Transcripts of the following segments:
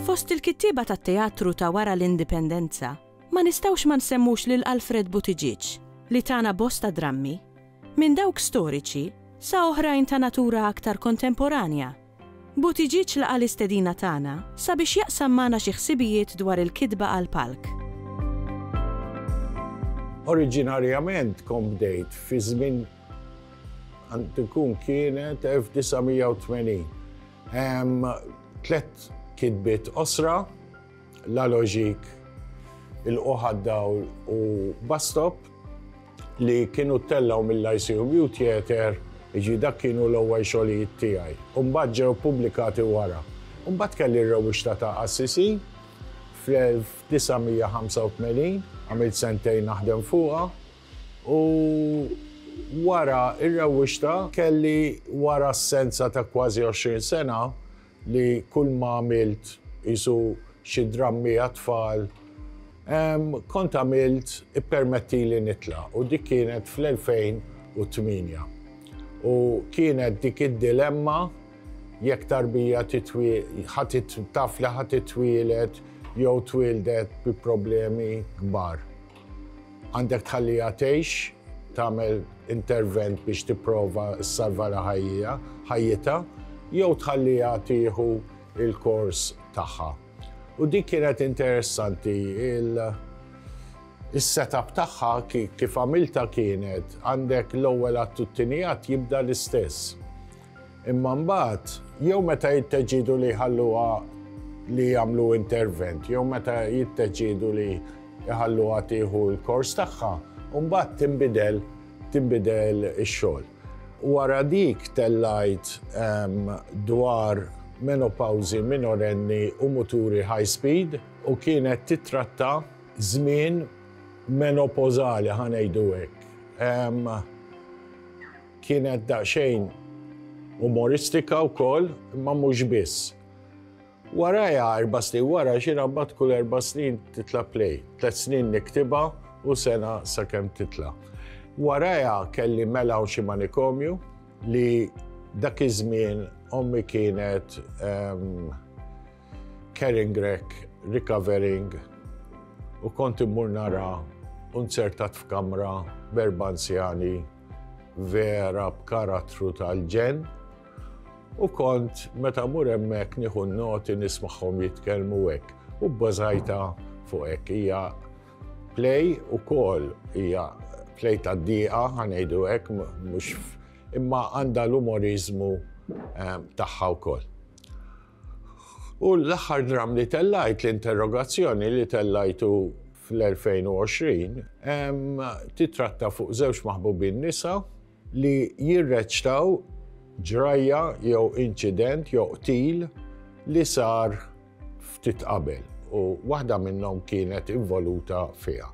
Fost il-kittieba tat-teatru ta' wara l-Indipendenza, ma nistgħux ma nsemmux lil Alfred Buttigieg li tana bosta drammi, minn dawk storiċi sa oħrajn ta' natura aktar kontemporanja Buttigieg laqa' l-istedina tagħna sabiex jaqsam magħna xi ħsibijiet dwar il-kitba għall-palk. Oriġinarjament kont bdejt fi żmien għandu jkun kienet 1980. Hemm tliet kitbiet qosra. La Logique, il-Qoħ għad-Dawl u Bus Stop li kienu ttellgħu mill-ICMU Theatre, jiġri dak kienu l-ewwel xogħlijiet tiegħi. U mbagħad ġew ppubblikati wara. U mbagħad kelli r-rewwixta ta' Assisi fl-1985, għamilt sentejn naħdem fuqha u wara r-rewwixta kelli wara assenza ta' kważi 20 sena, li kull ma għamilt qisu xi drammi għat-tfal, kont għamilt Ippermettili Nitlaq u dik kienet fl-2008. U kienet dik id-dilemma jekk tarbija taf li ħa titwieled jew twieldet bi problemi kbar. Għandek tħalliha tgħix, tagħmel intervent biex tipprova ssalvala ħajjija, ħajjitha, jew tħalliha tieħu il-kors tagħha. U dik kienet interessanti il-setup tagħha kif għamilta kienet għandek l-ewwel għat jibda l-istess. Imma mbagħad, jew meta jitteġġiedu li jħalluha li jagħmlu intervent, jew meta jitteġġiedu li jħalluha tieħu l-kors tagħha, u mbagħad tinbidel tinbidel ix-xogħol. Wara dik tellajt ehm, dwar menopawżi minorenni u muturi high speed u kienet titratta żmien menopozali ħanejdu hekk. Ehm, Kienet daqsxejn umoristika wkoll, imma mhux biss. Warajha, erba' snin wara, x'inha mbagħad kull erba' snin titla' play. Tliet snin niktibha u sena sakemm titla'. Warajha kelli mela u xi manikomju li dak iż-żmien ommi kienet carrying wreck, recovering u kont immur naraha u nzertat f'kamra b'erba' anzjani. vera b'karattru tal-ġenn u kont meta mur hemmhekk nieħu noti nismagħhom jitkellmu hekk u bbażajta fuq hekk hija play ukoll hija play tad-dieqa ħanejdu hekk mhux imma għandha l-umorizmu eh, tagħha wkoll. U l-aħħar dramm li tellajt l-interrogazzjoni li tellajtu fl-2020 titratta fuq żewġ maħbubin nisa li jirreċtaw ġrajja jew inċident jew qtil li sar ftit qabel u waħda minnhom kienet involuta fiha.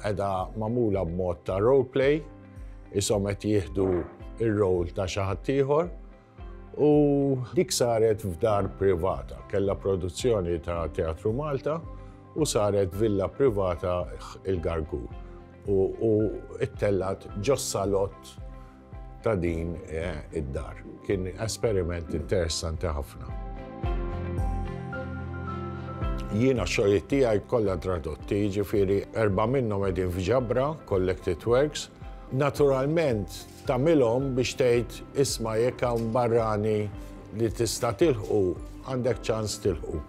Edha mamula b'mod ta' roleplay, isom qed jieħdu ir-rol ta' xi ħadd ieħor U dik saret f'dar privata, kella produzzjoni ta' Teatru Malta u saret villa privata il-Gargu. U it-tellat ġossalot ta' din eh, id-dar. Kien esperiment interessanti ħafna. Jiena xogħlijiet tiegħi kollha tradotti, ġifieri erba' minnhom qegħdin f'ġabra, Collected Works. Naturalment, Tagħmilhom biex tgħid, isma' jekk hawn barrani li tista' tilħqu, għandek ċans tilħqu.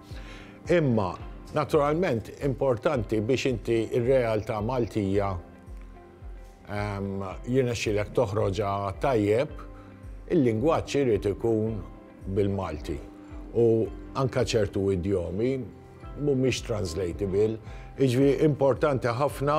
Imma, naturalment, importanti biex inti r-realtà Maltija jirnexxilek toħroġha tajjeb, il-lingwaġġ irid ikun bil-Malti. U anke ċertu idjomi mhumiex translatable, jiġifieri importanti ħafna